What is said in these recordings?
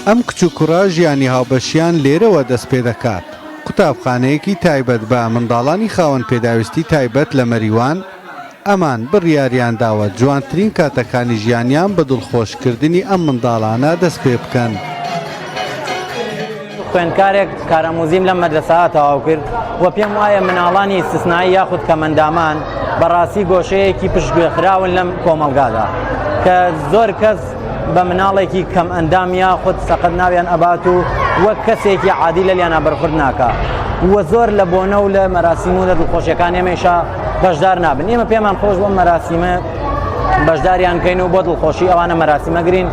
ئەم کچ و کوڕە ژیانی هاوبەشیان لێرەوە دەست پێ دەکات. قوتابخانەیەکی تایبەت بە منداڵانی خاوەن پێداویستی تایبەت لە مەریوان، ئەمان بڕیاریان داوە جوانترین کاتەکانی ژیانیان بە دڵخۆشکردنی ئەم منداڵانە دەست پێ بکەن. خوێندکارێک کاراموزیم لەم مەدرەسەا تەواو کرد و پێم وایە مناڵانی ئیستسنایی یاخود کەمەندامان بەڕاستی گۆشەیەکی پشتگوێخراون لەم کۆمەڵگادا کە زۆر کەس بە مناڵێکی کەم ئەندام یا خود سەقەت ناویان ئەبات و وەک کەسێکی عادی لە لیانا بەرخورد ناکە وە زۆر لە بۆنە و لە مەراسیم و لە دڵخۆشیەکان ئێمەشا بەشدار نابن ئێمە پێمان خۆش بۆ مەراسیمە بەشداریان کەین و بۆ دڵخۆشی ئەوانە مەراسیمەگرین.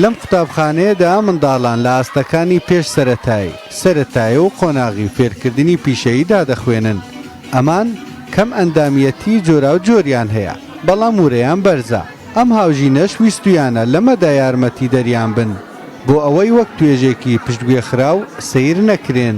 لەم قوتابخانەیەدا منداڵان لە ئاستەکانی پێش سەرەتایی، سەرەتایی و قۆناغی فێرکردنی پیشەییدا دەخوێنن، ئەمان کەم ئەندامیەتی جۆراوجۆریان هەیە، بەڵام ورەیان بەرزە، ئەم هاوژینەش ویستویانە لەمەدا یارمەتیدەریان بن بۆ ئەوەی وەک توێژێکی پشتگوێخراو سەیر نەکرێن.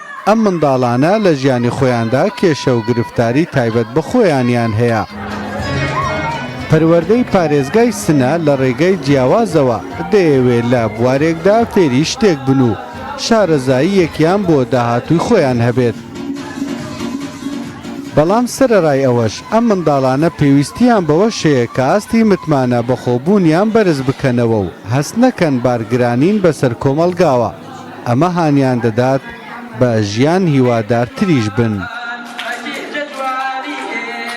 ئەم منداڵانە لە ژیانی خۆیاندا کێشە و گرفتاری تایبەت بە خۆیانیان هەیە. پەروەردەی پارێزگای سنە لە ڕێگای جیاوازەوە دەیەوێ لە بوارێکدا فێری شتێک بن و شارەزاییەکیان بۆ داهاتووی خۆیان هەبێت. بەڵام سەرەڕای ئەوەش ئەم منداڵانە پێویستییان بەوەش هەیە کە ئاستی متمانە بەخۆبوونیان بەرز بکەنەوە و هەست نەکەن بارگرانین بەسەر کۆمەڵگاوە. ئەمە هانیان دەدات بە ژیان هیوادارتریش بن.